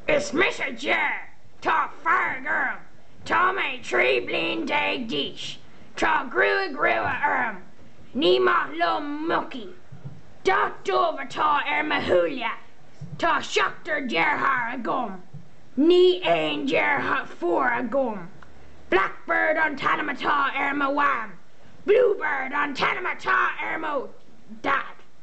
Is mise Ger. Tá fearg orm. Tá mé 13 bliain d'aois. Tá gruaig rua orm. Ní maith liom mucaí. Dath dubh atá ar mo shúile. Tá seachtar deartháir agam. Níl aon deirfiúr agam. Blackbird an t-ainm atá ar mo mham. Bluebird an t-ainm atá ar mo dhaid.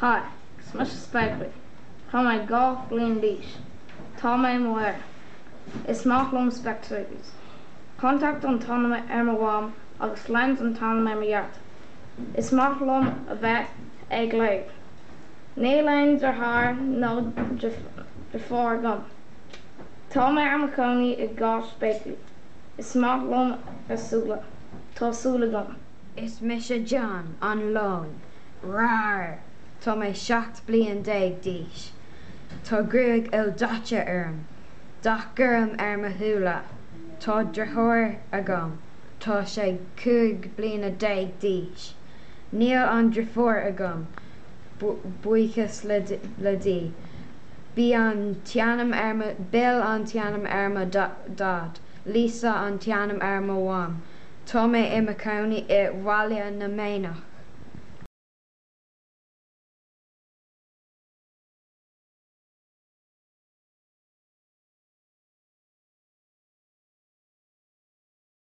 Hi, is mise Spéaclaí. Tá mé dhá bhliain d'aois. Tá mé i mo fhear. Is maith liom Specsavers. Contact an t-ainm ar mo mham agus Lens an t-ainm ar mo dhaid. Is maith liom a bheith ag léamh. Níl aon deartháir nó deirfiúr agam. Tá mé ar mo chónaí i gCathair Spéaclaí. Is maith liom a súile. Tá súil agam. Is mise John, an leon. Raar! Tá mé 17 bliain d'aois. Tá gruaig ildaite orm, dath gorm ar mo shúile. Tá driotháir agam, tá sé 15 bliana d'aois. Níl aon driofúr agam, buíochas le Dia. Bill an t-ainm ar mo Dhaid, Lisa an t-ainm ar mo Mham. Tá mé i mo chónaí i mBaile na Manach.